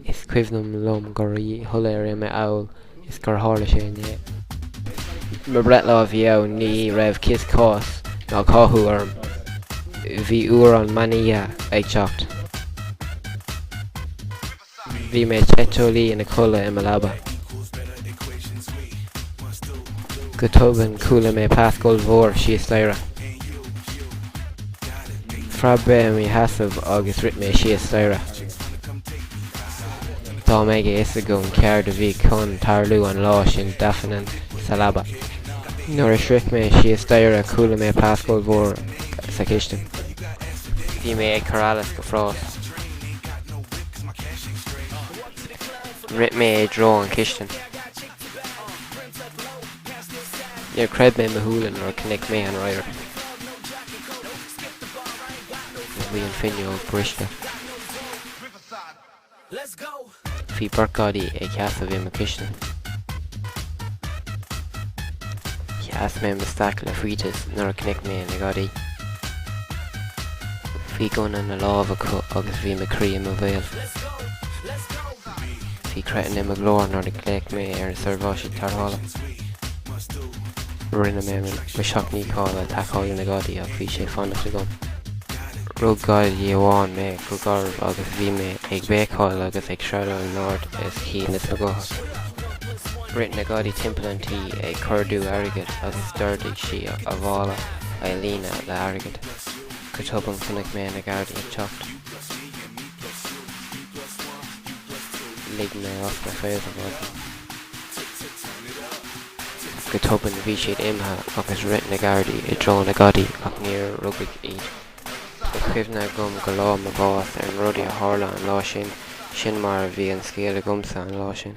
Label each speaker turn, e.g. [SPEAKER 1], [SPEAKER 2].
[SPEAKER 1] Is cuimhnim liom go rí shoiléir uime amhail is gur tharla sé inné. Mo breithlá a bhí ann, ní raibh cíos cás ná cathú orm. Bhí uair an meanoíche ag teacht. Bhí mé te teolaí ina codladh i mo leaba. Go tobann chuala mé pléasc ollmhór síos staighre. Phreab mé i mo sheasamh agus rith mé síos staighre. Dá mbeadh a fhios agam céard a bhí chun tarlú an lá sin d'fhanfainn sa leaba. Nuair a shroich mé síos staighre chuala mé pléasc ollmhór sa chistin. Bhí mé ag cur allas go fras. Rith mé i dtreo an chistin. Níor chreid mé mo shúile nuair a chonaic mé an radharc. Bhí an fhuinneog briste. Bhí beirt gadaí ag sheasamh i mo chistin. Sheas mé mo staic le faitíos nuair a chonaic mé na gadaí. Bhí gunna ina lámh acu agus bhí mo chroí i mo bhéal. Bhí creathán i mo ghlór nuair a ghlaoigh mé ar na seirbhísí tarrthála. Rinne mé mo sheacht ndícheall le tacáil le na gadaí ach bhí sé fánach agam. Rug gadaí amháin mé go garbh agus bhí mé ag béicíl agus ag screadaíl in ard is chinn is mo ghuth. Rith na gadaí timpeall an tí ag cuardú airgid agus d'ordaigh sí a mhála a líonadh le airgead. Go tobann chonaic mé na gardaí ag teacht. Lig mé amach na fréamha maidin. Go tobann bhí siad imithe agus rith na gardaí i dtreo na gadaí ach níor rugadh iad. Tá cuimhne agam go lá mo bhás ar na rudaí a tharla an lá sin, sin mar a bhí an scéal agamsa an lá sin.